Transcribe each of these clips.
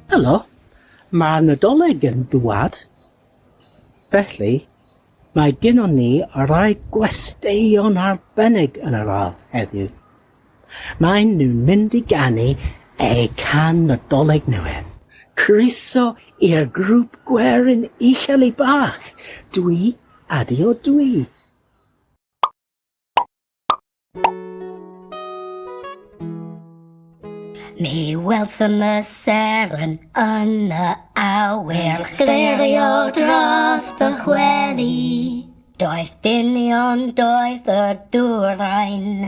Helo, mae Nadolig yn dŵad, felly mae gynnon ni rai gwesteion arbennig yn yr ardd heddiw. Maen nhw'n mynd i ganu eu can Nadolig newydd. Croeso i'r grŵp gwerin uchel i bach! Dwi ydi o dwi! Mi welsom y seren yn y awyr Yn sglerio dros fy chweli Doeth dynion, doeth y dŵr ddrain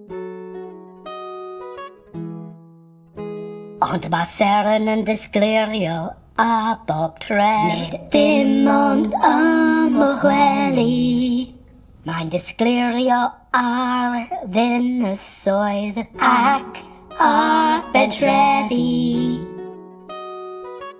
Ond mae Seren yn disgleirio a bob tref. Nid dim ond am o gwely. Mae'n disgleirio ar ddinysoedd ac ar bedrefi.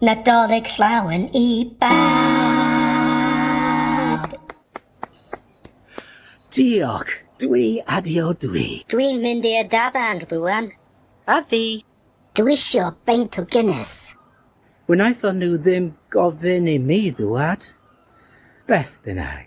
Nadolig llawen i bawb! Diolch! Dwi adio dwi. Dwi'n mynd i'r dafarn rwan. A fi! Dwi isio beint o Guinness. Wnaethon nhw ddim gofyn i mi ddŵad. Beth bynnag.